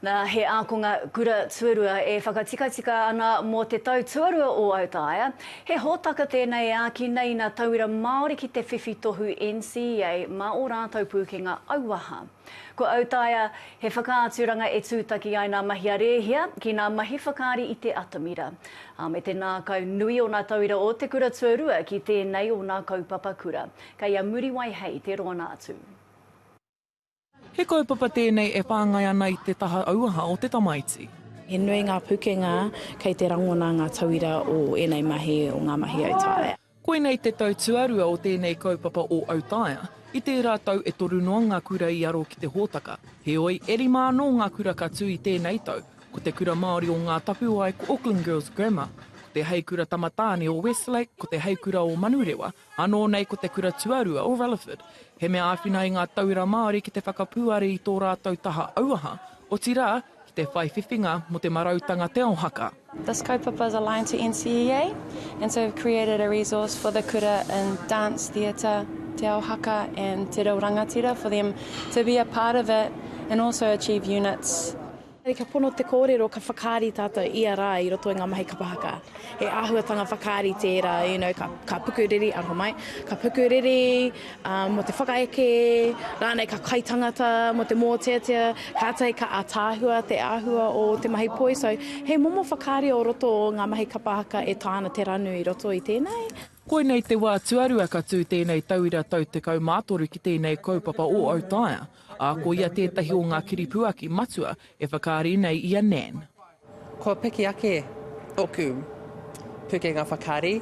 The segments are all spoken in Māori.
Nā, he ākonga kura tuarua e whakatikatika ana mō te tau tuarua o Autaia. He hōtaka tēnei e āki nei nā tauira Māori ki te whiwhi tohu NCEA mā ō rātou pūkenga auaha. Ko Autaia, he whakaaturanga e tūtaki ai nā mahi a Rēhia ki nā mahi whakaari i te atamira. Ā, me te ngākau nui o nā tauira o te kura tuarua ki tēnei o nā kaupapa kura. Kei a Muriwai Hei te roana atu. He kaupapa tēnei e whāngai ana i te taha auaha o te tamaiti. He nui ngā pukenga kei te rangona ngā tauira o ēnei mahi o ngā mahi autaia. Koinei te tau tuarua o tēnei kaupapa o Autaia. I tērā tau e toru noa ngā kura i aro ki te hōtaka. Heoi, e rima anō ngā kura ka tū i tēnei tau. Ko te kura Māori o Ngā Tapuwae ko Auckland Girls Grammar, ko te Heikura Tamatāne o Westlake, ko te Heikura o Manurewa, Anō nei ko te kura tuarua o Rutherford. He mea āwhina ai ngā tauira Māori ki te whakapūare i tō rātou taha auaha, otirā, ki te whai whiwhinga mō te marautanga Te Ao Haka. This kaupapa is aligned to NCEA and so we've created a resource for the kura in dance, theatre, Te Ao Haka and Te Reo Rangatira for them to be a part of it and also achieve units. Ka pono te kōrero ka whakaari tātou ia rā i roto i ngā mahi kapa haka. He āhuatanga whakaari tērā, you know, ka, ka pukuriri, aroha mai, ka pukuriri um, mō te whakaeke, rānei ka kai tangata mō te mōteatea, kātai ka atāhua te āhua o te mahi poi. So, he momo whakaari o roto o ngā mahi kapa haka e tāna te ranu i roto i tēnei. Koinei te wā tuarua ka tū tēnei tauira tau 13 ki tēnei kaupapa o Autaia. ā, ko ia tētahi o ngā kiripuaki matua e whakaari nei i a Nan. Kua piki ake tōku pukenga whakaari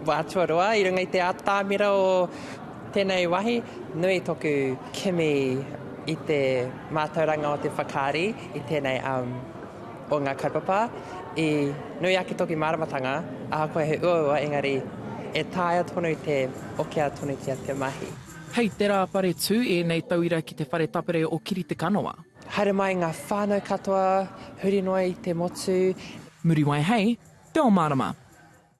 wā tuarua i runga i te atamira o tēnei wahi. Nui tōku kimi i te mātauranga o te whakaari i tēnei o ngā kaupapa. I nui ake tōku māramatanga, ahakoa he uaua, engari e taea tonu te okea tonutia te mahi. Hei te rā whare tū ēnei tauira ki te whare tapere o Kiritekanoa. Haere mai ngā whānau katoa, huri noa i te motu. Muriwai hei te o marama.